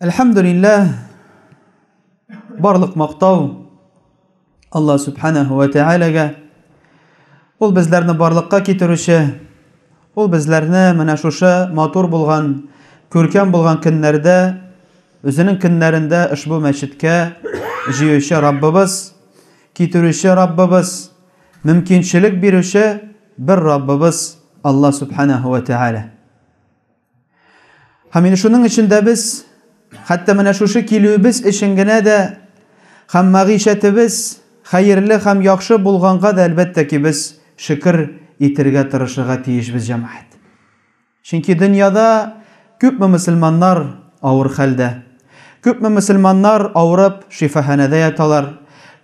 Әлхәмдулилләһ, барлык мактау Алла Субханәһу ва Тәгаләгә. Ул безләрне барлыкка китерүче, Ул безләрне менә шушы матур булган, күркәм булган көннәрдә, Үзенең көннәрендә ошбу мәчеткә җыючы Раббыбыз, китерүче Раббыбыз, мөмкинчелек бирүче бер Раббыбыз Алла Сүбхәнәһү вә Тәгалә. Һәм инде шуның өчен дә без, хәтта менә шушы килүебез өчен генә дә һәм мәгыйшәтебез хәерле һәм яхшы булганга да, әлбәттә ки, без шөкер итергә тырышырга тиешбез, җәмәгать. Чөнки дөньяда күпме мөселманнар авыр хәлдә, күпме мөселманнар авырып шифаханәдә яталар,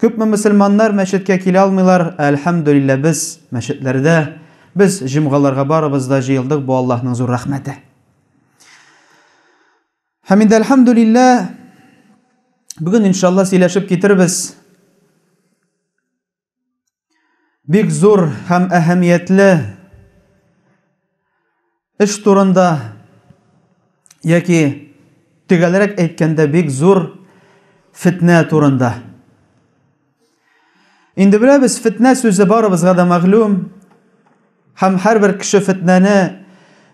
күпме мөселманнар мәчеткә килә алмыйлар, ә әлхәмдүлилләһ, без мәчетләрдә, Без җомгаларга барыбыз да җыелдык, бу Аллаһның зур рәхмәте. Һәм инде әлхәмдүлиллә, бүген иншалла сөйләшеп китербез. Бик зур һәм әһәмиятле Эш турында яки төгәлрәк әйткәндә бик зур фетнә турында. Инде беләбез, фетнә сүзе барыбызга да мәгълүм. Һәм һәрбер кеше фетнәне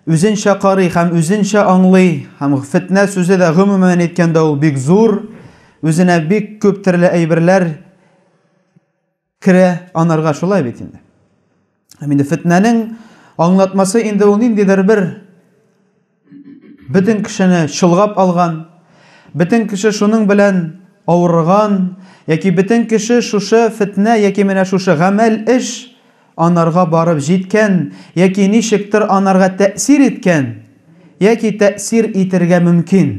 үзенчә карый һәм үзенчә аңлый. Һәм фетнә сүзе дә гомумән әйткәндә ул бик зур, үзенә бик күп төрле әйберләр Керә анарга шулай бит инде. Һәм инде фетнәнең аңлатмасы инде ул ниндидер бер бөтен кешене чолгап алган, бөтен кеше шуның белән авырган, яки бөтен кеше шушы фетнә яки менә шушы гамәл эш анарга барып җиткән, яки ничектер анарга тәэсир иткән, яки тәэсир итергә мөмкин.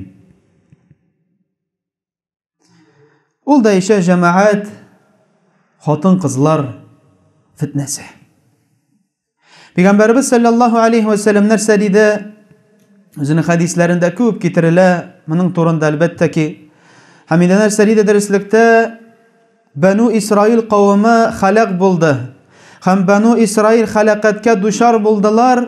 Ул да ишә җәмәгать хатын-кызлар фитнәсе. Пәйгамбәрбез саллаллаһу алейһи ва саллям нәрсә диде? Үзенең хәдисләрендә күп китерелә, моның турында әлбәттә ки. Һәм инде нәрсә диде дәреслектә? Бану Исраил кавымы халак булды. Һәм Бану Исраил халакәткә дучар булдылар.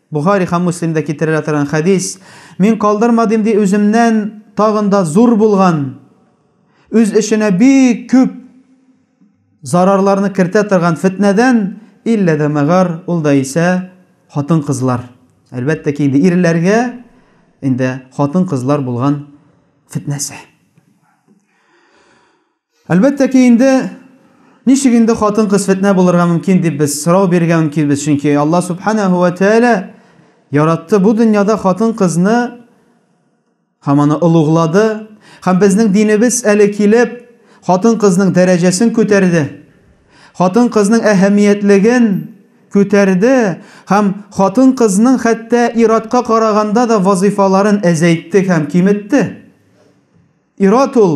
Бухари һәм Муслимда китерелә торган хәдис, Мин калдырмадым ди үземнән тагын да зур булган, үз эченә бик күп зарарларны кертә торган фетнәдән, иллә дә мәгар, ул да исә хатын-кызлар. Әлбәттә ки, инде ирләргә инде хатын-кызлар булган фетнәсе. Әлбәттә ки, инде ничек инде хатын-кыз фетнә булырга мөмкин дип без сорау бирергә мөмкинбез, чөнки Алла Субханәһу вә Тәгалә яратты бу дөньяда хатын-кызны һәм аны олуглады, һәм безнең динебез әле килеп хатын-кызның дәрәҗәсен күтәрде, хатын-кызның әһәмиятлеген күтәрде һәм хатын-кызның хәтта ир-атка караганда да вазыйфаларын әзәйтте һәм киметте. Ир-ат ул,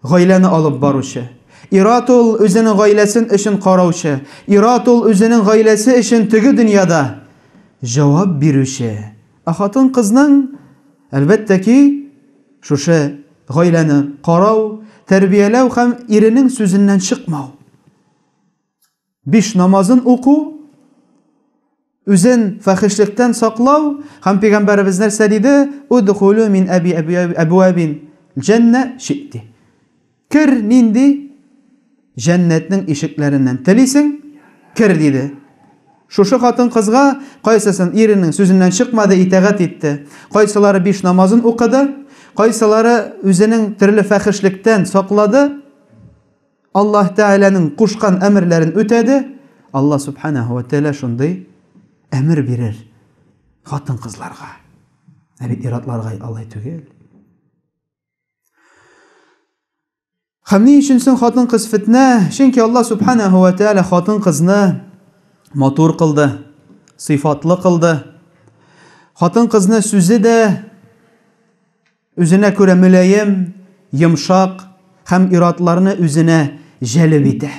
гаиләне алып баручы. Ир-ат ул, үзенең гаиләсен өчен караучы. Ир-ат ул, үзенең гаиләсе өчен теге дөньяда җавап бирүче. Ә хатын-кызның, әлбәттә ки, шушы гаиләне карау, тәрбияләү һәм иренең сүзеннән чыкмау. Биш намазын уку, үзен фәхешлектән саклау һәм пәйгамбәребез нәрсә диде? Удхулу мин әби әбуабин җәннә шити. Кер нинди җәннәтнең ишекләреннән телисең, кер диде. Шушы хатын-кызга кайсысын иренең сүзеннән чыкмады, итәгать итте. Кайсылары биш намазын укыды, кайсылары үзенең төрле фәхешлектән саклады. Аллаһ Тәгаләнең кушкан әмерләрен үтәде. Аллаһ Субханаһу ва Тәгалә шундый әмер бирер хатын-кызларга. Ә бит иратларга алай түгел. Һәм ни өчен соң хатын-кыз фитнә? Чөнки Аллаһ Субханаһу ва Тәгалә хатын-кызны матур кылды, сыйфатлы кылды. Хатын-кызны сүзе дә Үзенә күрә мөлаем, йомшак һәм ир-атларны үзенә җәлеп итә.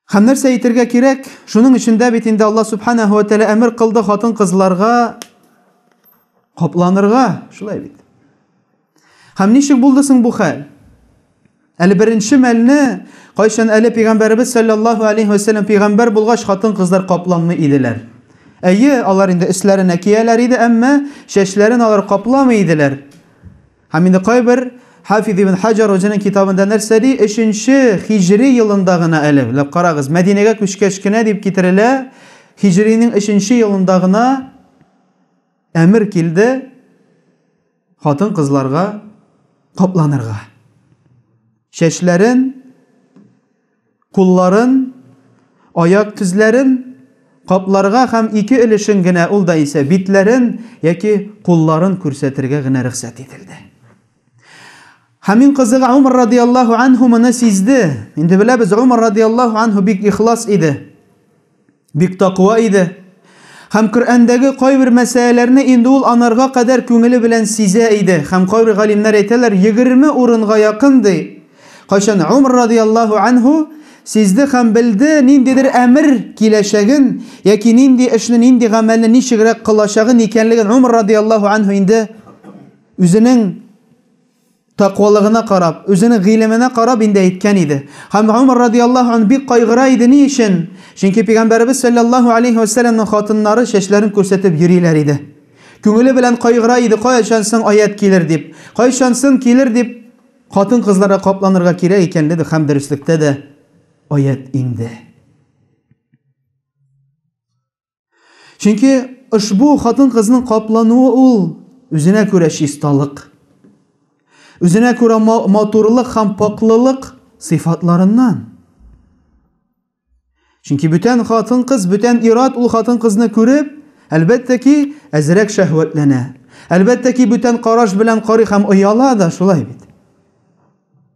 Һәм нәрсә әйтергә кирәк? Шуның өчен дә бит инде Аллаһ Сүбхәнәһү вә Тәгалә әмер кылды хатын-кызларга капланырга, шулай бит. Һәм ничек булды соң бу хәл? Әле беренче мәлне, кайчан әле пигамбәребез саллаллаһу алейһи ва сәлләм пигамбәр булгач, хатын-кызлар капламый иделәр. Әйе, алар инде өсләренә кияләр иде, әмма чәчләрен алар капламый иделәр. Һәм инде кайбер Хафиз ибн Хаҗар үзенең китабында нәрсә ди? Өченче хиҗри елында гына әле, ләп карагыз, Мәдинәгә күчкәч кенә дип китерелә, хиҗринең өченче елында гына әмер килде, хатын-кызларга капланырга. Чәчләрен, кулларын, аяк тезләрен капларга һәм ике өлешен генә ул да исә битләрен яки кулларын күрсәтергә генә рөхсәт ителде. Хамин кызыга Умар радиаллаху анху моны сизде. Инде беләбез, Умар радиаллаху анху бик ихлас иде. Бик таква иде. Һәм Коръәндәге кайбер мәсьәләләрне инде ул анарга кадәр күңеле белән сизә иде. Һәм кайбер галимнәр әйтәләр, егерме урынга якын, ди. Кайчан Умар радиаллаһу әнһү сизде һәм белде, ниндидер әмер киләчәген, яки нинди эшне, нинди гамәлне ничегрәк кылачагын, икәнлеген Умар радиаллаһу әнһү инде үзенең, Тәкъвалыгына карап, үзенең гыйлеменә карап инде әйткән иде. Һәм Гомәр радияллаһу ан бик кайгыра иде, ни өчен? Чөнки Пигамбәребез сәлләллаһу алейһи вә сәлләмнең хатыннары чәчләрен күрсәтеп йөриләр иде. Күңеле белән кайгыра иде, кайчан соң аять килер дип, кайчан соң килер дип, хатын-кызларга капланырга кирәк икәнлеге һәм дөреслектә дә аять инде. Чөнки ошбу хатын-кызның каплануы ул үзенә күрә чисталык, үзенә күрә матурлык һәм пакьлылык сыйфатларыннан. Чөнки бүтән хатын-кыз, бүтән ират ул хатын-кызны күреп, әлбәттә ки, әзрәк шәһвәтләнә. Әлбәттә ки, бүтән караш белән карый һәм ояла да, шулай бит.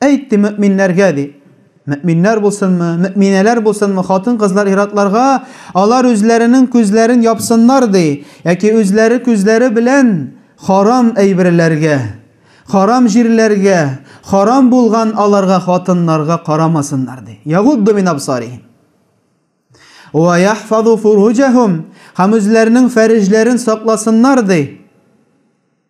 Әйт, ди, мөэминнәргә, ди, мөэминнәр булсынмы, мөэминәләр булсынмы, хатын-кызлар ир-атларга, алар үзләренең күзләрен япсыннар, ди, яки үзләре күзләре белән харам әйберләргә, харам җирләргә, харам булган аларга хатыннарга карамасыннар, ди. Ягудду мин абсарихим. Уә яхфазу фуруҗәһум, һәм үзләренең фәреҗләрен сакласыннар, ди.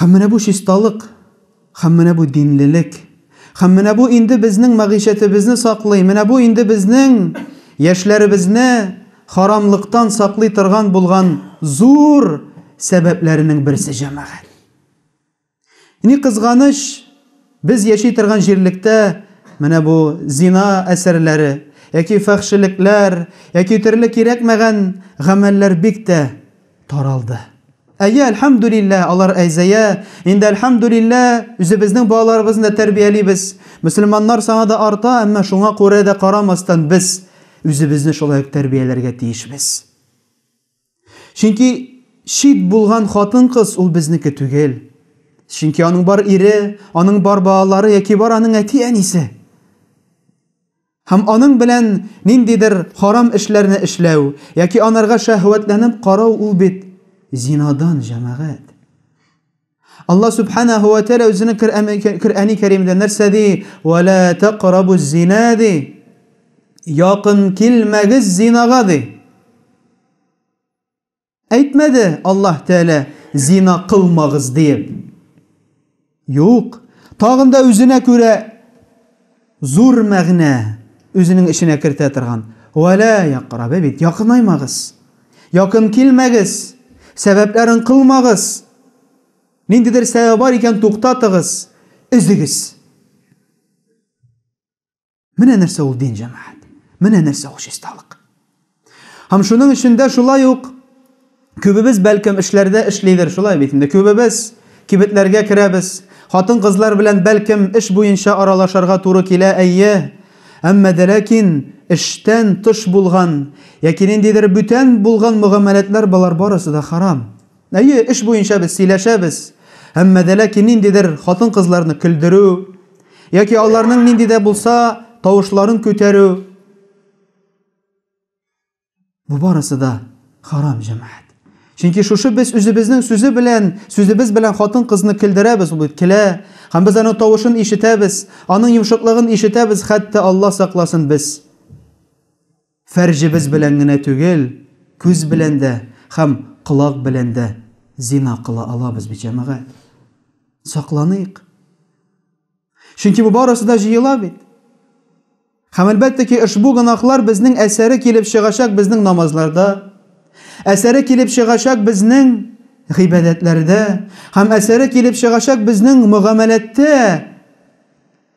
Һәм менә бу чисталык, һәм менә бу динлелек, һәм менә бу инде безнең мәгыйшәтебезне саклый, менә бу инде безнең яшьләребезне харамлыктан саклый торган булган зур сәбәпләренең берсе җәмәгать. Ни кызганыч, без яши торган җирлектә менә бу зина әсәрләре яки фәхшелекләр яки төрле кирәкмәгән гамәлләр бик тә таралды. Әйе, әлхәмдүлилләһ, алар әзәя. Инде әлхәмдүлилләһ, үзебезнең балаларыбызны да тәрбиялибез. Мөселманнар саны да арта, әмма шуңа күрә дә карамастан без үзебезне шулай ук тәрбияләргә тиешбез. Чөнки чит булган хатын-кыз ул безнеке түгел. Чөнки аның бар ире, аның бар балалары яки бар аның әти-әнисе. Һәм аның белән ниндидер харам эшләрне эшләү яки анарга шәһвәтләнеп карау ул бит зинадан, җәмәгать. Алла субханаху ва тәгалә үзенең Коръәни Кәримдә нәрсә ди? Ва ла тәкърабу зина ди. Якын килмәгез зинага ди. Әйтмәде Аллаһ Тәгалә зина кылмагыз диеп. Юк. Тагында үзенә күрә Зур мәгънә үзенең эченә кертә торган Вә лә якърабе бит, якынаймагыз, якын килмәгез, сәбәпләрен кылмагыз, ниндидер сәбәбе бар икән, туктатыгыз, өзегез. Менә нәрсә ул дин, җәмәгать. Менә нәрсә ул чисталык. Һәм шуның өчен дә шулай ук күбебез, бәлкем, эшләрдә эшлидер, шулай бит инде, күбебез кибетләргә керәбез, хатын-кызлар белән, бәлкем, эш буенча аралашарга туры килә, әйе. Әмма дә ләкин эштән тыш булган яки ниндидер бүтән булган мөгамәләтләр, болар барысы да харам. Әйе, эш буенча без сөйләшәбез, әмма дә ләкин ниндидер хатын-кызларны көлдерү яки аларның нинди дә булса тавышларын күтәрү, Бу барысы да харам җәмәгать. Чөнки шушы без үзебезнең сүзе белән, сүзебез белән хатын-кызны көлдерәбез, ул бит көлә, һәм без аның тавышын ишетәбез, аның йомшаклыгын ишетәбез, хәтта Алла сакласын без фәрҗебез белән генә түгел, күз белән дә һәм колак белән дә зина кыла алабыз бит, җәмәгать. Сакланыйк. Чөнки бу барысы да җыела бит. Һәм әлбәттә ки, ошбу гөнаһлар безнең әсәре килеп чыгачак безнең намазларда, әсәре килеп чыгачак безнең гыйбадәтләрдә һәм әсәре килеп чыгачак безнең мөгамәләттә.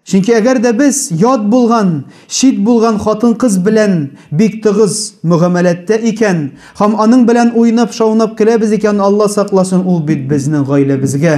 Чөнки әгәр дә без ят булган, чит булган хатын-кыз белән бик тыгыз мөгамәләттә икән һәм аның белән уйнап-шаунап көләбез икән, Алла сакласын, ул бит безнең гаиләбезгә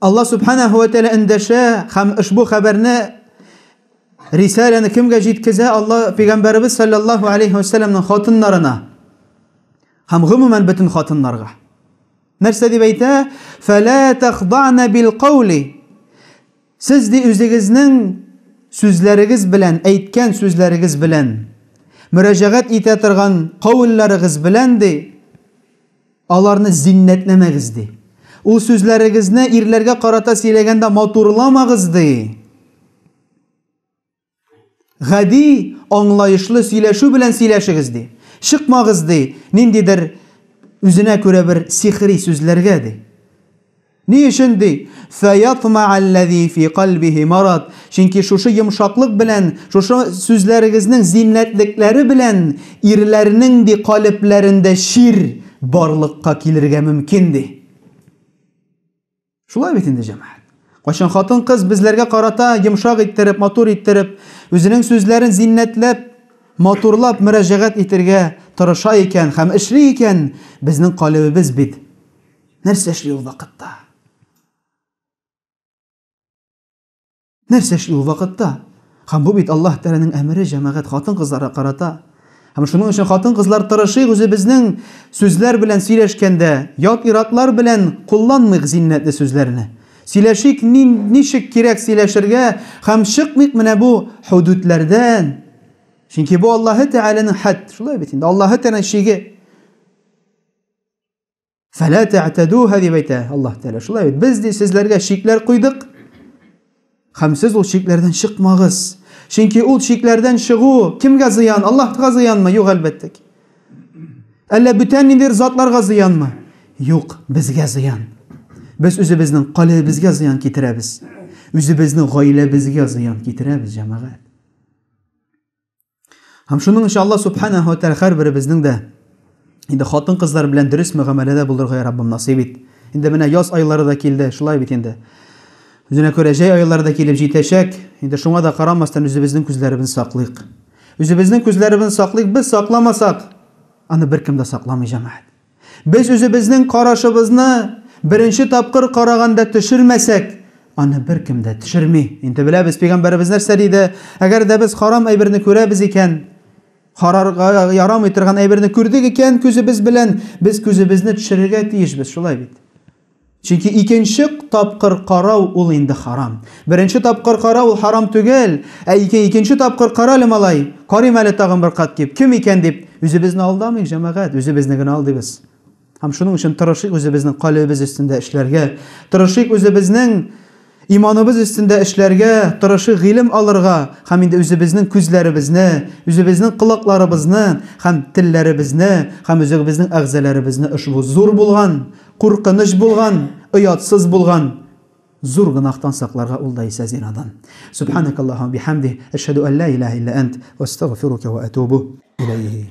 Алла Субханәһү вә Тәгалә эндәшә һәм ошбу хәбәрне рисаләне кемгә җиткезә? Алла пәйгамбәребез саллаллаһу алейһи ва сәлләмнең хатыннарына һәм гомумән бөтен хатыннарга. Нәрсә дип әйтә? Фәлә тәхдана бил каули. Сез ди үзегезнең сүзләрегез белән, әйткән сүзләрегез белән, мөрәҗәгать итә торган каулларыгыз белән ди, Аларны зиннәтләмәгез, ди. Ул сүзләрегезне ирләргә карата сөйләгәндә матурламагыз, ди. Гади, аңлаешлы сөйләшү белән сөйләшегез, ди. Чыкмагыз, ди, ниндидер үзенә күрә бер сихри сүзләргә, ди. Ни өчен ди? Фәятмаалләзи фи кальбихи марад, чөнки шушы йомшаклык белән, шушы сүзләрегезнең зиннәтлекләре белән ирләрнең ди калебләрендә чир барлыкка килергә мөмкин, ди. Шулай бит инде, җәмәгать. Кайчан хатын-кыз безләргә карата йомшак иттереп, матур иттереп, үзенең сүзләрен зиннәтләп, матурлап мөрәҗәгать итергә тырыша икән һәм эшли икән, безнең калебебез бит. Нәрсә эшли ул вакытта? Нәрсә эшли ул вакытта? Һәм бу бит Аллаһ Тәгаләнең әмере җәмәгать хатын-кызларга карата. Һәм шуның өчен хатын-кызлар тырышыйк үзебезнең сүзләр белән сөйләшкәндә, ят иратлар белән кулланмыйк зиннәтле сүзләрне. Сөйләшик, ничек кирәк сөйләшергә һәм чыкмыйк менә бу худудләрдән. Чөнки бу Аллаһ Тәгаләнең хәд, шулай бит инде, Аллаһ Тәгаләнең шиге. Фәлә тәтәдүһә дип әйтә Аллаһ Тәгалә. Шулай бит. Без ди сезләргә чикләр куйдык. Һәм сез ул чикләрдән чыкмагыз. Чөнки ул чикләрдән чыгу кемгә зыян? Аллаһка зыянмы? Юк, әлбәттә. Әллә бүтән ниндидер затларга зыянмы? Юк, безгә зыян. Без үзебезнең калебезгә зыян китерәбез. Үзебезнең гаиләбезгә зыян китерәбез, җәмәгать. Һәм шуның өчен Аллаһ субханаһу ва тааля һәрберебезнең дә инде хатын-кызлар белән дөрес мөгамәләдә булырга я Раббым насыйп ит. Инде менә яз айлары да килде, шулай бит инде. Үзенә күрә җәй айлары да килеп җитәчәк. Инде шуңа да карамастан үзебезнең күзләребезне саклыйк. Үзебезнең күзләребезне саклыйк, без сакламасак, аны беркем дә сакламый, җәмәгать. Без үзебезнең карашыбызны беренче тапкыр караганда төшермәсәк, аны беркем дә төшерми. Инде беләбез, пигамбәребез нәрсә диде, әгәр дә без харам әйберне күрәбез икән, карарга ярамый торган әйберне күрдек икән күзебез белән, без күзебезне төшерергә тиешбез, шулай бит? Чөнки икенче тапкыр карау ул инде харам. Беренче тапкыр карау ул харам түгел, ә ике икенче тапкыр кара әле, малай, карыйм әле тагын бер кат дип, кем икән дип, үзебезне алдамыйк, җәмәгать, үзебезне генә алдыйбыз. Һәм шуның өчен тырышыйк үзебезнең калебебез өстендә эшләргә, тырышыйк үзебезнең Иманыбыз өстендә эшләргә, тырышыйк гыйлем алырга һәм инде үзебезнең күзләребезне, үзебезнең колакларыбызны һәм телләребезне һәм үзегебезнең әгъзаларыбызны ошбу зур булган, куркыныч булган, оятсыз булган зур гөнаһтан сакларга ул да исә зинадан. Субханакаллаһу ва бихәмдих, әшһәду ан ла илаһа илля әнт, әстәгъфирука ва әтубу иләйһи.